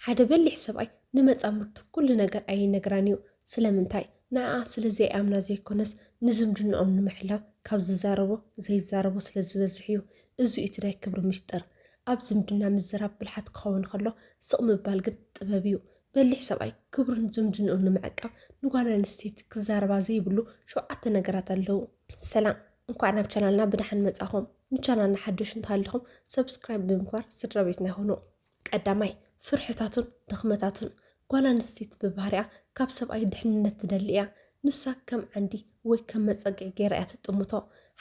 ሓደ በሊሕ ሰብኣይ ንመጻምድቱ ኩሉ ነገር ኣይነግራን እዩ። ስለምንታይ? ንዕኣ ስለ ዘይኣምና ዘይኮነስ፣ ንዝምድንኦም ንምሕላው ካብ ዝዛረቦ ዘይዛረቦ ስለ ዝበዝሕ እዩ። እዚ እዩ እቲ ናይ ክብሪ ምስጢር። ኣብ ዝምድና ምዝራብ ብልሓት ክኸውን ከሎ፣ ስቕ ምባል ግን ጥበብ እዩ። በሊሕ ሰብኣይ ክብሩን ዝምድንኡን ንምዕቃብ ንጓል ኣንስተይቲ ክዛረባ ዘይብሉ ሸውዓተ ነገራት ኣለዉ። ሰላም እንኳዕ ናብ ቻናልና ብደሓን መጻኹም ንቻናልና ሓደሽ እንተሃሊኹም ሰብስክራይብ ብምግባር ስድራቤትና ይኹኑ። ቀዳማይ፣ ፍርሕታቱን ድኽመታቱን፣ ጓል ኣንስተይቲ ብባህሪኣ ካብ ሰብኣይ ድሕንነት ትደሊ እያ። ንሳ ከም ዓንዲ ወይ ከም መጸግዒ ገይራ እያ ትጥምቶ።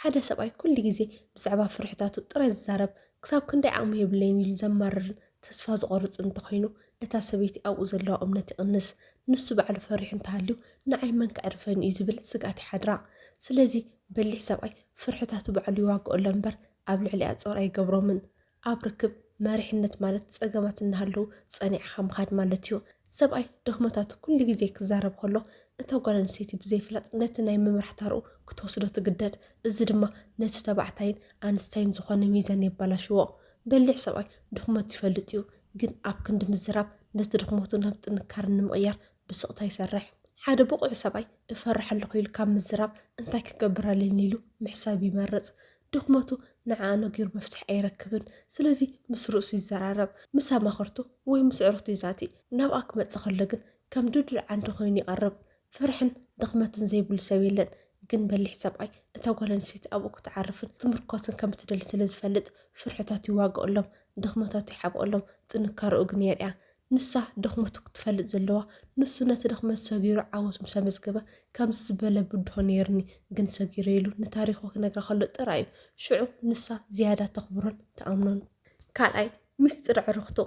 ሓደ ሰብኣይ ኩሉ ግዜ ብዛዕባ ፍርሕታቱ ጥራይ ዝዛረብ፣ ክሳብ ክንደይ ዓቕሚ የብለይን ኢሉ ዘማርርን ተስፋ ዝቖርጽን እንተ ኾይኑ፣ እታ ሰበይቲ ኣብኡ ዘለዋ እምነት ይቕንስ። ንሱ ባዕሉ ፈሪሑ እንተ ሃልዩ፣ ንዓይ መን ከዕርፈኒ እዩ ዝብል ስግኣት ይሓድራ። ስለዚ፣ በሊሕ ሰብኣይ ፍርሕታቱ ባዕሉ ይዋግኣሎም እምበር ኣብ ልዕሊኣ ጾር ኣይገብሮምን። ኣብ ርክብ መሪሕነት ማለት ጸገማት እናሃለዉ ጸኒዕኻ ምኻድ ማለት እዩ። ሰብኣይ ድኽመታቱ ኩሉ ግዜ ክዛረብ ከሎ፣ እታ ጓል ኣንስተይቲ ብዘይፍላጥ ነቲ ናይ ምምራሕ ታራኡ ክትወስዶ ትግደድ። እዚ ድማ ነቲ ተባዕታይን ኣንስታይን ዝኾነ ሚዛን የባላሽዎ። በሊሕ ሰብኣይ ድኽመቱ ይፈልጥ እዩ፣ ግን ኣብ ክንዲ ምዝራብ ነቲ ድኽመቱ ናብ ጥንካረ ንምቕያር ብስቕታ ይሰርሕ። ሓደ ብቑዕ ሰብኣይ እፈርሕ ኣለኹ ኢሉ ካብ ምዝራብ እንታይ ክገብር ኣለኒ ኢሉ ምሕሳብ ይመርጽ። ድኽመቱ ንዓ ነጊሩ መፍትሒ ኣይረክብን ስለዚ ምስ ርእሱ ይዘራረብ ምስ ኣማኸርቱ ወይ ምስ ኣዕሩኽቱ ይዛቲ ናብኣ ክመጽእ ከሎ ግን ከም ድልዱል ዓንዲ ኮይኑ ይቐርብ ፍርሕን ድኽመትን ዘይብሉ ሰብ የለን ግን በሊሕ ሰብኣይ እታ ጓል ኣንስተይቲ ኣብኡ ክትዓርፍን ክትምርኮስን ከም እትደሊ ስለ ዝፈልጥ ፍርሕታቱ ይዋገኣሎም ድኽመታቱ ይሓብኦሎም ጥንካረኡ ግን የርእያ ንሳ ድኽመቱ ክትፈልጥ ዘለዋ ንሱ ነቲ ድኽመት ሰጊሩ ዓወት ምስ ኣመዝገበ ከምዚ ዝበለ ብድሆ ነይሩኒ ግን ሰጊረ ኢሉ ንታሪኹ ክነግራ ከሎ ጥራይ እዩ። ሽዑ ንሳ ዝያዳ ተኽብሮን ትኣምኖን። ካልኣይ ሚስጢር ዕርኽቱ፣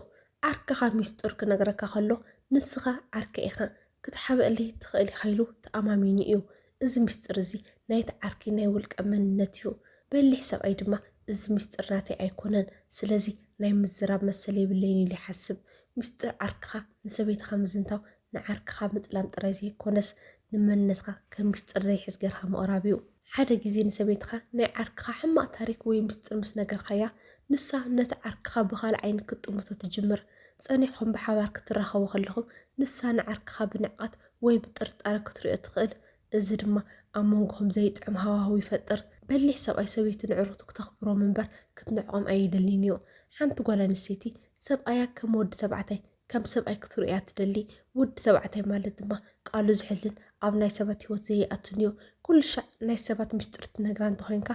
ዓርክኻ ሚስጥሩ ክነግረካ ከሎ ንስኻ ዓርከይ ኢኻ ክትሓብኣለይ ትኽእል ኢኻ ኢሉ ተኣማሚኑ እዩ። እዚ ምስጢር እዚ ናይቲ ዓርኪ ናይ ውልቀ መንነት እዩ። በሊሕ ሰብኣይ ድማ እዚ ምስጢር ናተይ ኣይኮነን፣ ስለዚ ናይ ምዝራብ መሰል የብለይን ኢሉ ይሓስብ። ምስጢር ዓርክኻ ንሰበይትኻ ምዝንታው ንዓርክኻ ምጥላም ጥራይ ዘይኮነስ፣ ንመንነትካ ከም ምስጢር ዘይሕዝ ጌርካ ምቕራብ እዩ። ሓደ ግዜ ንሰበይትኻ ናይ ዓርክኻ ሕማቕ ታሪኽ ወይ ምስጢር ምስ ነገርካያ፣ ንሳ ነቲ ዓርክኻ ብኻልእ ዓይኒ ክትጥምቶ ትጅምር። ጸኒሕኩም ብሓባር ክትራኸቡ ከለኹም፣ ንሳ ንዓርክኻ ብንዕቀት ወይ ብጥርጣረ ክትርእዮ ትኽእል፣ እዚ ድማ ኣብ መንጎኹም ዘይጥዕም ሃዋህው ይፈጥር። በሊሕ ሰብኣይ ሰበይቱ ነዕሩኽቱ ክተኽብሮም እምበር ክትንዕቆም ኣይደልይን እዩ። ሓንቲ ጓል ኣንስተይቲ፣ ሰብኣያ ከም ወዲ ተባዕታይ ከም ሰብኣይ ክትርእዮ እያ ትደሊ። ውዲ ሰባዕታይ ማለት ድማ ቃሉ ዝሕልን ኣብ ናይ ሰባት ህይወት ዘይኣቱን እዩ። ኩሉ ሻዕ ናይ ሰባት ምስጢር ትነግራ እንተኾይንካ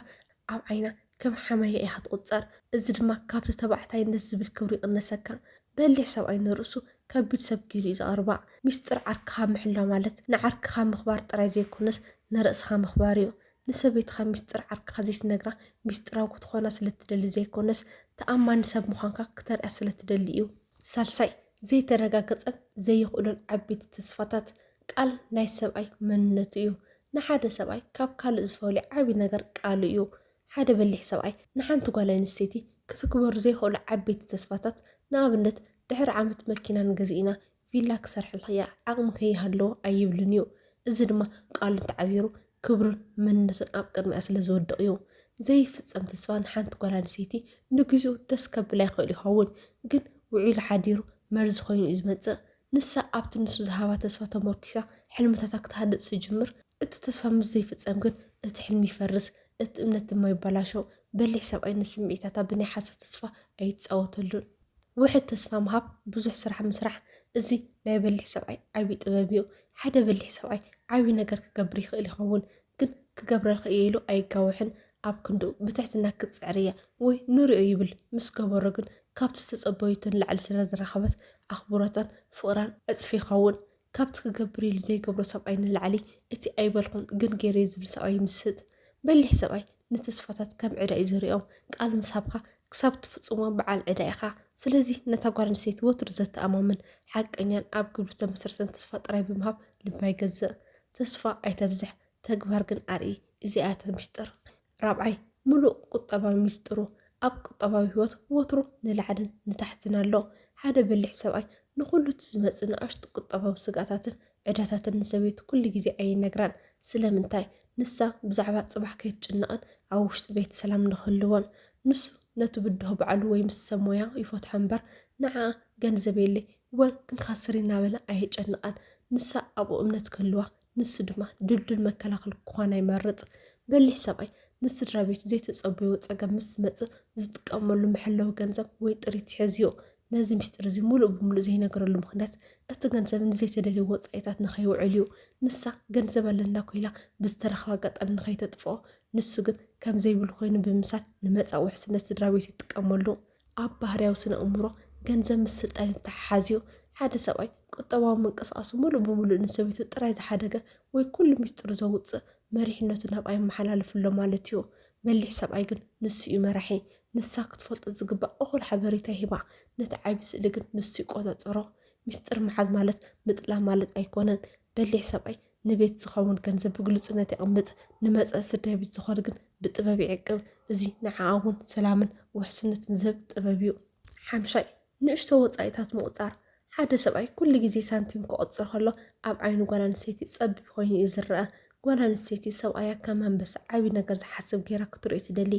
ኣብ ዓይና ከም ሓማያ ኢኻ ትቑጸር። እዚ ድማ ካብቲ ተባዕታይነት ዝብል ክብሪ ይቕነሰካ። በሊሕ ሰብኣይ ንርእሱ ከቢድ ሰብ ገይሩ እዩ ዝቐርባ። ምስጢር ዓርክኻ ምሕላው ማለት ንዓርክኻ ምኽባር ጥራይ ዘይኮነስ ንርእስኻ ምኽባር እዩ። ንሰበይትኻ ሚስጥር ዓርክኻ ዘይትነግራ ሚስጥራዊ ክትኾና ስለትደሊ ዘይኮነስ ተኣማኒ ሰብ ምዃንካ ክተርእያ ስለትደሊ እዩ። ሳልሳይ፣ ዘይተረጋገጸን ዘይኽእሎን ዓቢይቲ ተስፋታት፣ ቃል ናይ ሰብኣይ መንነቱ እዩ። ንሓደ ሰብኣይ ካብ ካልእ ዝፈልዮ ዓቢ ነገር ቃሉ እዩ። ሓደ በሊሕ ሰብኣይ ንሓንቲ ጓል ኣንስተይቲ ክትግበሩ ዘይኽእሉ ዓቢይቲ ተስፋታት ንኣብነት ድሕሪ ዓመት መኪና ንገዝእ ኢና ቪላ ክሰርሐልኪ እያ ዓቕሚ ከይሃለዎ ኣይብልን እዩ። እዚ ድማ ቃሉ እንተዓቢሩ ክብሩን መንነቱን ኣብ ቅድሚኣ ስለ ዝወድቕ እዩ። ዘይፍጸም ተስፋ ንሓንቲ ጓል ኣንስተይቲ ንግዚኡ ደስ ከብላ ይኽእል ይኸውን፣ ግን ውዒሉ ሓዲሩ መርዚ ኮይኑ እዩ ዝመጽእ። ንሳ ኣብቲ ንሱ ዝሃባ ተስፋ ተሞርኪሳ ሕልምታታ ክትሃንጽ ትጅምር። እቲ ተስፋ ምስ ዘይፍጸም ግን እቲ ሕልሚ ይፈርስ፣ እቲ እምነት ድማ ይበላሾ። በሊሕ ሰብኣይ ንስምዒታታ ብናይ ሓሶት ተስፋ ኣይጻወተሉን። ውሕድ ተስፋ ምሃብ ብዙሕ ስራሕ ምስራሕ እዚ ናይ በሊሕ ሰብኣይ ዓቢ ጥበብ እዩ ሓደ በሊሕ ሰብኣይ ዓቢ ነገር ክገብር ይኽእል ይኸውን ግን ክገብረ ክኢሉ ኣይጋወሕን ኣብ ክንድኡ ብትሕትና ክትጽዕር እያ ወይ ንሪኦ ይብል ምስ ገበሮ ግን ካብቲ ዝተጸበዩቶ ንላዕሊ ስለ ዝረኸበት ኣኽብሮታን ፍቕራን ዕጽፊ ይኸውን ካብቲ ክገብር ኢሉ ዘይገብሮ ሰብኣይ ንላዕሊ እቲ ኣይበልኩን ግን ገይረ'የ ዝብል ሰብኣይ ይምስጥ። በሊሕ ሰብኣይ ንተስፋታት ከም ዕዳ እዩ ዝሪኦም። ቃል ምስ ሃብካ ክሳብ ትፍጽሞ በዓል ዕዳ ኢኻ። ስለዚ ነታ ጓል ኣንስተይቲ ወትሩ ዘተኣማምን፣ ሓቀኛን ኣብ ግብሪ ዝተመስረተን ተስፋ ጥራይ ብምሃብ ልባ ይገዝእ። ተስፋ ኣይተብዝሕ፣ ተግባር ግን ኣርኢ። እዚኣ እያ እታ ሚስጥር። ራብዓይ፣ ምሉእ ቁጠባዊ ሚስጥሩ። ኣብ ቁጠባዊ ህይወት ወትሩ ንላዕልን ንታሕትን ኣሎ። ሓደ በሊሕ ሰብኣይ ንኹሉ እቲ ዝመጽእ ንኣሽቱ ቁጠባዊ ስግኣታትን ዕዳታትን ንሰበይቱ ኩሉ ግዜ ኣይነግራን። ስለምንታይ? ንሳ ብዛዕባ ጽባሕ ከይትጭነቕን ኣብ ውሽጢ ቤት ሰላም ንኽህልዎን። ንሱ ነቲ ብድሆ ባዕሉ ወይ ምስ ሰብ ሞያ ይፈትሖ እምበር ንዓኣ ገንዘብ የለይ ወይ ክንካስር ኢና በለ ኣየጨንቓን። ንሳ ኣብኡ እምነት ክህልዋ ንሱ ድማ ድልዱል መከላኸሊ ክኾና ይመርጽ። በሊሕ ሰብኣይ ንስድራ ቤቱ ዘይተጸበዮ ጸገም ምስ ዝመጽእ ዝጥቀመሉ መሐለዊ ገንዘብ ወይ ጥሪት ይሕዝዮ። ነዚ ምስጢር እዚ ምሉእ ብምሉእ ዘይነግረሉ ምኽንያት እቲ ገንዘብ ንዘይተደልዩ ወጻኢታት ንኸይውዕል እዩ። ንሳ ገንዘብ ኣለና ኮይላ ብዝተረኽበ ኣጋጣሚ ንኸይተጥፍኦ፣ ንሱ ግን ከም ዘይብሉ ኮይኑ ብምምሳል ንመጻእ ውሕስነት ስድራ ቤቱ ይጥቀመሉ። ኣብ ባህርያዊ ስነ እምሮ፣ ገንዘብ ምስ ስልጣን ይተሓሓዝዮ። ሓደ ሰብኣይ ቁጠባዊ ምንቅስቓሱ ምሉእ ብምሉእ ንሰበይቱ ጥራይ ዝሓደገ ወይ ኩሉ ሚስጥሩ ዘውጽእ፣ መሪሕነቱ ናብ ኣይመሓላልፍሎ ማለትዮ። በሊሕ ሰብኣይ ግን ንሱ'ዩ መራሒ። ንሳ ክትፈልጦ ዝግባእ እኹል ሓበሬታ ይህባ፣ ነቲ ዓቢ ስእሊ ግን ንሱ ይቆጸጸሮ። ሚስጥር ምሓዝ ማለት ምጥላም ማለት ኣይኮነን። በሊሕ ሰብኣይ ንቤት ዝኸውን ገንዘብ ብግሉጽነት የቕምጥ፣ ንመጸእቲ ደቢት ዝኾን ግን ብጥበብ ይዕቅብ፣ እዚ ንዓኣ እውን ሰላምን ውሕስነትን ዝህብ ጥበብ እዩ። ሓምሻይ፣ ንእሽቶ ወጻኢታት ምቑጻር፣ ሓደ ሰብኣይ ኩሉ ግዜ ሳንቲም ክቑጽር ከሎ ኣብ ዓይኒ ጓል ኣንስተይቲ ጸቢብ ኮይኑ እዩ ዝረኣ። ጓል ኣንስተይቲ ሰብኣያ ከም ኣንበሳ ዓቢ ነገር ዝሓስብ ገይራ ክትርእዮ ትደሊ።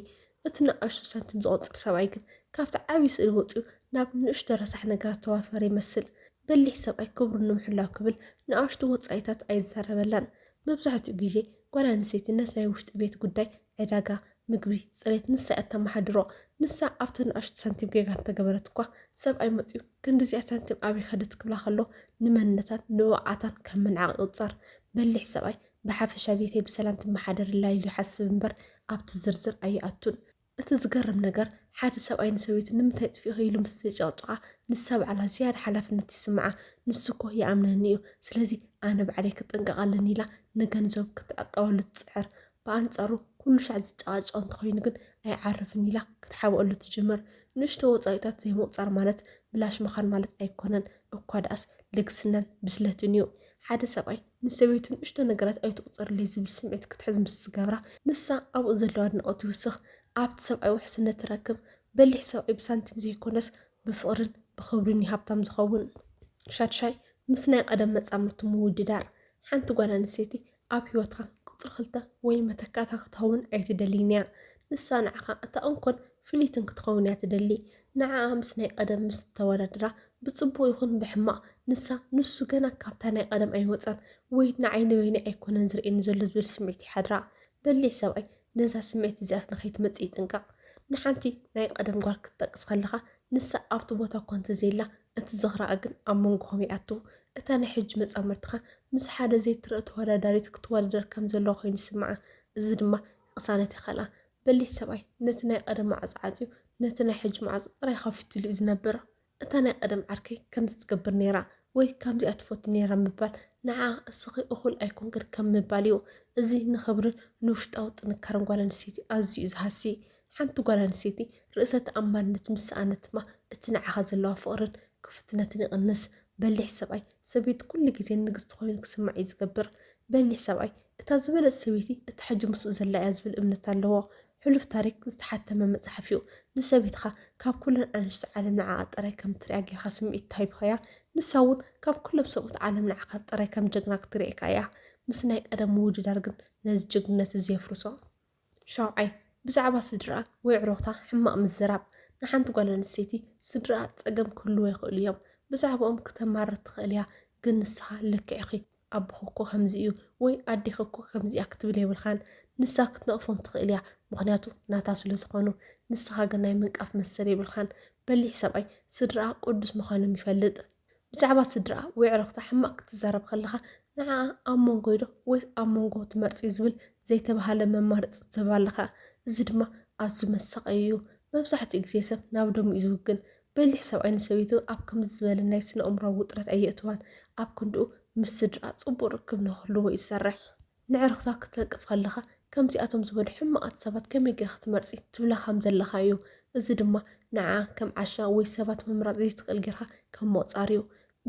እቲ ንኣሽቱ ሳንቲም ዝቑጽር ሰብኣይ ግን ካብቲ ዓቢ ስእሊ ወጺኡ ናብ ንእሽቶ ረሳሕ ነገራት ዝተዋፈረ ይመስል። በሊሕ ሰብኣይ ክብሩ ንምሕላው ክብል ንኣሽቱ ወጻኢታት ኣይዛረበላን። መብዛሕትኡ ግዜ ጓል ኣንስተይቲ ነቲ ናይ ውሽጢ ቤት ጉዳይ፣ ዕዳጋ፣ ምግቢ፣ ጽሬት፣ ንሳ እያ እተመሓድሮ። ንሳ ኣብተን ንኣሽቱ ሳንቲም ጌጋ እንተገበረት እኳ፣ ሰብኣይ መጺኡ ክንዲዚኣ ሳንቲም ኣበይ ከደት ክብላ ከሎ ንመንነታን ንብቕዓታን ከም ምንዓቕ ይቑጸር። በሊሕ ሰብኣይ ብሓፈሻ ቤተይ ብሰላም ትመሓደረላ ኢሉ ይሓስብ እምበር ኣብቲ ዝርዝር ኣይኣቱን። እቲ ዝገርም ነገር ሓደ ሰብኣይ ንሰበይቱ ንምንታይ ጥፊእኺ ኢሉ ምስ ዘጨቕጭቓ ንሳ ባዕላ ዝያዳ ሓላፍነት ይስምዓ ንሱ እኮ ይኣምነኒ እዩ ስለዚ ኣነ ባዕለይ ክጥንቀቕ ኣለኒ ኢላ ንገንዘቡ ክትዕቀበሉ ትጽዕር ብኣንጻሩ ኩሉ ሻዕ ዝጨቓጨቕ እንተኾይኑ ግን ኣይዓርፍን ኢላ ክትሓብኣሉ ትጅምር ንእሽቶ ወጻኢታት ዘይምቑጻር ማለት ብላሽ ምኻን ማለት ኣይኮነን እኳ ደኣስ ልግስናን ብስለትን እዩ ሓደ ሰብኣይ ንሰበይቱ ንእሽቶ ነገራት ኣይትቑፀርለይ ዝብል ስምዒት ክትሕዝ ምስ ዝገብራ ንሳ ኣብኡ ዘለዋ ኣድናቖት ይውስኽ። ኣብቲ ሰብኣይ ውሕስነት ትረክብ። በሊሕ ሰብኣይ ብሳንቲም ዘይኮነስ ብፍቕሪን ብኽብሪን እዩ ሃብታም ዝኸውን። ሻድሻይ፣ ምስ ናይ ቐደም መፃምድቱ ምውድዳር። ሓንቲ ጓል ኣንስተይቲ ኣብ ህይወትካ ቁፅሪ ክልተ ወይ መተካእታ ክትኸውን ኣይትደልይን እያ። ንሳ ንዓኻ እታ እንኮን ፍልይትን ክትኸውን እያ ትደሊ። ንዓኣ ምስ ናይ ቐደም ምስ እተወዳድራ፣ ብጽቡቕ ይኹን ብሕማቕ፣ ንሳ፣ ንሱ ገና ካብታ ናይ ቐደም ኣይወጸን፣ ወይ ንዓይ ንበይነይ ኣይኮነን ዝርእየኒ ዘሎ ዝብል ስምዒት ይሓድራ። በሊሕ ሰብኣይ ነዛ ስምዒት እዚኣስ ንኸይትመጽእ ይጥንቀቕ። ንሓንቲ ናይ ቐደም ጓል ክትጠቅስ ከለኻ፣ ንሳ ኣብቲ ቦታ እኳ እንተ ዘየላ፣ እቲ ዝኽራኣ ግን ኣብ መንጎኹም ይኣቱ። እታ ናይ ሕጂ መጻምድትኻ ምስ ሓደ ዘይትርእ ተወዳዳሪት ክትወዳደር ከም ዘለዋ ኮይኑ ይስምዓ፣ እዚ ድማ ቅሳነት የኸልኣ። በሊሕ ሰብኣይ ነቲ ናይ ቐደም ማዕጾ ዓጽዩ ነቲ ናይ ሕጂ ማዕጾ ጥራይ ኸፊቱሉ እዩ ዝነብር። እታ ናይ ቐደም ዓርከይ ከምዚ ትገብር ነይራ ወይ ከምዚኣ ትፈቱ ነይራ ምባል ንዓኣ እስኺ እኹል ኣይኮንክን ከም ምባል እዩ። እዚ ንኽብርን ንውሽጣዊ ጥንካረን ጓል ኣንስተይቲ ኣዝዩ እዩ ዝሃሲ። ሓንቲ ጓል ኣንስተይቲ ርእሰ ተኣማንነት ምስ ሰኣነት ድማ እቲ ንዓኻ ዘለዋ ፍቕርን ክፉትነትን ይቕንስ። በሊሕ ሰብኣይ ሰበይቲ ኩሉ ግዜ ንግስቲ ኮይኑ ክስማዕ እዩ ዝገብር በሊሕ ሰብኣይ እታ ዝበለጽ ሰበይቲ እታ ሕጂ ምስኡ ዘላ እያ ዝብል እምነት ኣለዎ ሕሉፍ ታሪክ ዝተሓተመ መጽሓፍ እዩ ንሰበይትካ ካብ ኩለን ኣንሽቲ ዓለም ንዓኣ ጥራይ ከም ትሪኣ ጌርካ ስምዒት ተሂብካያ ንሳ ውን ካብ ኩሎም ሰብኡት ዓለም ንዓካ ጥራይ ከም ጀግና ክትሪኤካ እያ ምስ ናይ ቀደም ምውድዳር ግን ነዚ ጅግንነት እዚ የፍርሶ። ሻውዓይ፣ ብዛዕባ ስድራኣ ወይ ኣዕሩኽታ ሕማቕ ምዝራብ። ንሓንቲ ጓል ኣንስተይቲ ስድራኣ ጸገም ክህልዎ ይኽእሉ እዮም። ብዛዕባኦም ክተማርር ትኽእል እያ፣ ግን ንስኻ ልክዕ ኢኺ፣ ኣቦኺ እኮ ከምዚ እዩ ወይ ኣዴኺ እኮ ከምዚ እያ ክትብል የብልካን። ንሳ ክትነቕፎም ትኽእል እያ፣ ምኽንያቱ ናታ ስለ ዝኾኑ። ንስኻ ግን ናይ ምንቃፍ መሰል የብልካን። በሊሕ ሰብኣይ ስድራኣ ቅዱስ ምዃኖም ይፈልጥ። ብዛዕባ ስድራኣ ወይ ዕረኽታ ሕማቕ ክትዛረብ ከለኻ ንዓኣ ኣብ መንጎይዶ ወይስ ኣብ መንጎ ትመርጺ ዝብል ዘይተባህለ መማረጺ ትህባ ኣለኻ። እዚ ድማ ኣዝዩ መሳቐዪ እዩ። መብዛሕትኡ ግዜ ሰብ ናብ ደሙ እዩ ዝውግን። በሊሕ ሰብኣይ ንሰበይቱ ኣብ ከምዚ ዝበለ ናይ ስነኣእምሮኣዊ ውጥረት ኣየእትዋን። ኣብ ክንድኡ ምስ ስድራኣ ጽቡቕ ርክብ ንኽህልዎ እዩ ዝሰርሕ። ንዕርኽታ ክትለቅፍ ከለኻ ከምዚኣቶም ዝበሉ ሕማቓት ሰባት ከመይ ጌርኪ ክትመርጺ ትብላ ከም ዘለኻ እዩ። እዚ ድማ ንዓኣ ከም ዓሻ ወይ ሰባት ምምራጽ ዘይትኽእል ጌርካ ከም ምቑጻር እዩ።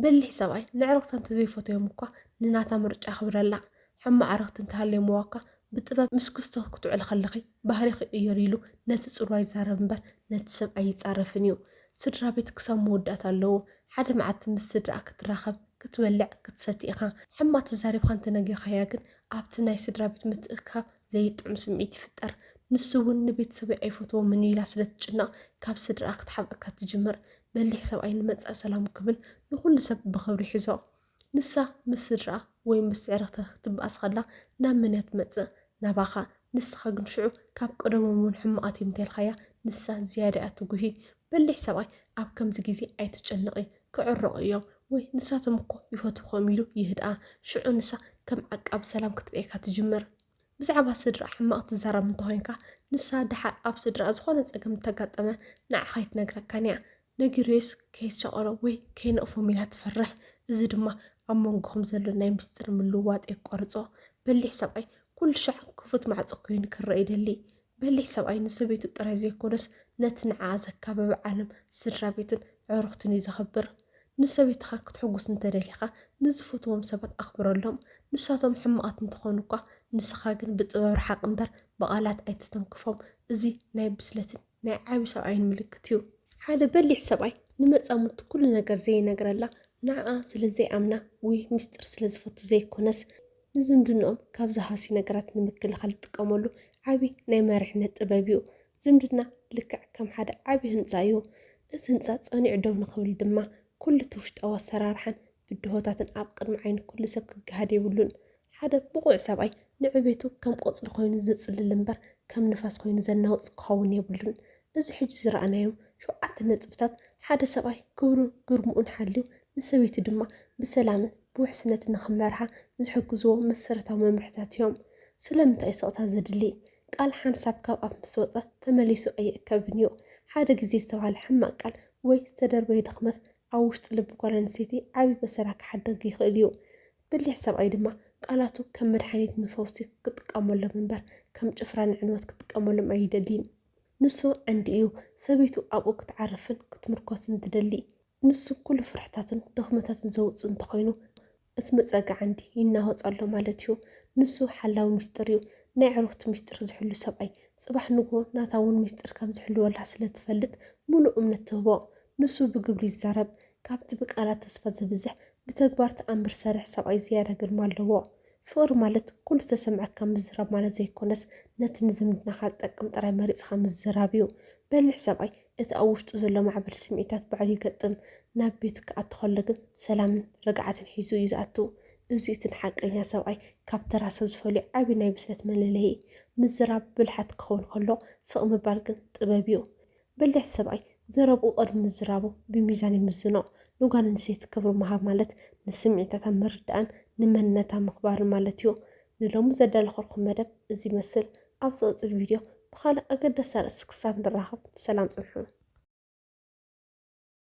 በሊሕ ሰብኣይ ንዕርኽታ እንተ ዘይፈተዮም እኳ ንናታ ምርጫ ኣኽብረላ። ሕማቕ ዕርኽቲ እንተ ሃልዮምዋ እኳ ብጥበብ ምስ ክስቶ ክትውዕሊ ከለኺ ባህሪኺ ቅየሪ ኢሉ ነቲ ጽልዋ ይዛረብ እምበር ነቲ ሰብ ኣይጻረፍን እዩ። ስድራቤት ክሳብ መወዳእታ ኣለዉ። ሓደ መዓልቲ ምስ ስድራኣ ክትራኸብ ክትበልዕ ክትሰቲ ኢኻ ሕማ ተዛሪብካ እንተነጊርካያ ግን ኣብቲ ናይ ስድራቤት ምትእክካብ ዘይጥዑም ስምዒት ይፍጠር ንሱ ውን ንቤተሰበይ ኣይፈትዎምን ኢላ ስለ ትጭነቅ ካብ ስድርኣ ክትሓብእካ ትጅምር በሊሕ ሰብኣይ ንመጻኢ ሰላሙ ክብል ንኩሉ ሰብ ብክብሪ ይሕዞ ንሳ ምስ ስድርኣ ወይ ምስ ስዕርክታ ክትበኣስ ከላ ናብ መንያ ትመጽእ ናባኻ ንስኻ ግን ሽዑ ካብ ቀደሞም ውን ሕማቓት እዮም እንተልካያ ንሳ ዝያዳ እያ ትጉሂ በሊሕ ሰብኣይ ኣብ ከምዚ ግዜ ኣይትጨነቒ ክዕረቑ እዮም ወይ ንሳቶም እኮ ይፈትዉኹ እዮም ኢሉ ይህድኣ ሽዑ ንሳ ከም ዓቃቢ ሰላም ክትርእየካ ትጅምር ብዛዕባ ስድራኣ ሕማቕ ትዛረብ እንተኾይንካ ንሳ ደሓር ኣብ ስድራኣ ዝኾነ ጸገም እንተጋጠመ ንዓኻ ኣይትነግረካን እያ ንግሬስ ከየስጨቐሮ ወይ ከይነቕፎም ኢላ ትፈርሕ፣ እዚ ድማ ኣብ መንጎኹም ዘሎ ናይ ምስጢር ምልውዋጥ የቋርጾ። በሊሕ ሰብኣይ ኩሉ ሻዕ ክፉት ማዕጾ ኮይኑ ክረኣ ይደሊ። በሊሕ ሰብኣይ ንሰበይቱ ጥራይ ዘይኮነስ ነቲ ንዓኣ ዘካበበ ዓለም፣ ስድራቤትን ኣዕሩኽትን እዩ ዘኽብር። ንሰበይትኻ ክትሕጉስ እንተ ደሊኻ ንዝፈትዎም ሰባት ኣኽብረሎም፣ ንሳቶም ሕማቓት እንተኾኑ'ኳ። ንስኻ ግን ብጥበብ ርሓቕ እምበር ብቓላት ኣይትተንክፎም፣ እዚ ናይ ብስለትን። ናይ ዓቢ ሰብኣይን ምልክት እዩ። ሓደ በሊሕ ሰብኣይ ንመጻምድቱ ኩሉ ነገር ዘይነግረላ ንዓኣ ስለ ዘይኣምና ወይ ምስጢር ስለ ዝፈቱ ዘይኮነስ ንዝምድንኦም ካብ ዝሃስዩ ነገራት ንምክልኻል ዝጥቀመሉ ዓቢ ናይ መሪሕነት ጥበብ እዩ። ዝምድና ልክዕ ከም ሓደ ዓቢ ህንጻ እዩ። እቲ ህንጻ ጸኒዑ ደው ንኽብል ድማ ኩሉ'ቲ ውሽጣዊ ኣሰራርሓን ብድሆታትን ኣብ ቅድሚ ዓይኒ ኩሉ ሰብ ክገሃድ የብሉን። ሓደ ብቑዕ ሰብኣይ ንዕቤቱ ከም ቆጽሊ ኮይኑ ዘጽልል እምበር ከም ንፋስ ኮይኑ ዘናውጽ ክኸውን የብሉን። እዚ ሕጂ ዝረኣናዮም ሸውዓተ ነጥብታት ሓደ ሰብኣይ ክብሩን ግርምኡን ሓልዩ ንሰበይቱ ድማ ብሰላምን ብውሕስነትን ንኽመርሓ ዝሕግዝዎ መሰረታዊ መምርሕታት እዮም። ስለምንታይ'ዩ ስቕታ ዘድሊ? ቃል ሓንሳብ ካብ ኣፍ ምስ ወጸ ተመሊሱ ኣይእከብን እዩ። ሓደ ግዜ ዝተባህለ ሕማቕ ቃል ወይ ዝተደርበየ ድኽመት ኣብ ውሽጢ ልቢ ጓል ኣንስተይቲ ዓቢ በሰላ ክሓድግ ይኽእል እዩ። በሊሕ ሰብኣይ ድማ ቃላቱ ከም መድሓኒት ንፈውሲ ክጥቀመሎም እምበር ከም ጭፍራ ንዕንወት ክጥቀመሎም ኣይደልይን። ንሱ ዓንዲ እዩ፣ ሰበይቱ ኣብኡ ክትዓርፍን ክትምርኮስን ትደሊ። ንሱ ኩሉ ፍርሕታቱን ድኽመታቱን ዘውጽእ እንተኾይኑ እቲ መጸግዒ ዓንዲ ይናወጽ ኣሎ ማለት እዩ። ንሱ ሓላዊ ሚስጥር እዩ፣ ናይ ኣዕሩኽቱ ሚስጥር ዝሕሉ ሰብኣይ። ጽባሕ ንግሆ ናታ እውን ሚስጥር ከም ዝሕልወላ ስለ ትፈልጥ ምሉእ እምነት ትህቦ። ንሱ ብግብሪ ይዛረብ፣ ካብቲ ብቃላት ተስፋ ዝብዝሕ ብተግባር ተኣምር ሰርሕ ሰብኣይ ዝያዳ ግርማ ኣለዎ። ፍቕሪ ማለት ኩሉ ዝተሰምዐካ ምዝራብ ማለት ዘይኮነስ ነቲ ንዝምድናኻ ዝጠቅም ጥራይ መሪጽኻ ምዝራብ እዩ። በሊሕ ሰብኣይ እቲ ኣብ ውሽጡ ዘሎ ማዕበል ስምዒታት ባዕሉ ይገጥም። ናብ ቤቱ ክኣቱ ከሎ ግን ሰላምን ርግዓትን ሒዙ እዩ ዝኣቱ። እዚ'ዩ እቲ ንሓቀኛ ሰብኣይ ካብ ተራ ሰብ ዝፈልዮ ዓቢ ናይ ብስለት መለለዪ። ምዝራብ ብልሓት ክኸውን ከሎ ስቕ ምባል ግን ጥበብ እዩ። በሊሕ ሰብኣይ ዘረብኡ ቅድሚ ምዝራቡ ብሚዛን ይምዝኖ። ንጓል ኣንስተይቲ ክብሪ ምሃብ ማለት ንስምዒታታ ምርዳእን ንመንነታ ምኽባርን ማለት እዩ። ንሎሚ ዘዳለኹልኩም መደብ እዚ ይመስል። ኣብ ዝቕጽል ቪድዮ ብኻልእ ኣገዳሲ ኣርእስቲ ክሳብ ንራኸብ ሰላም ጽንሑ።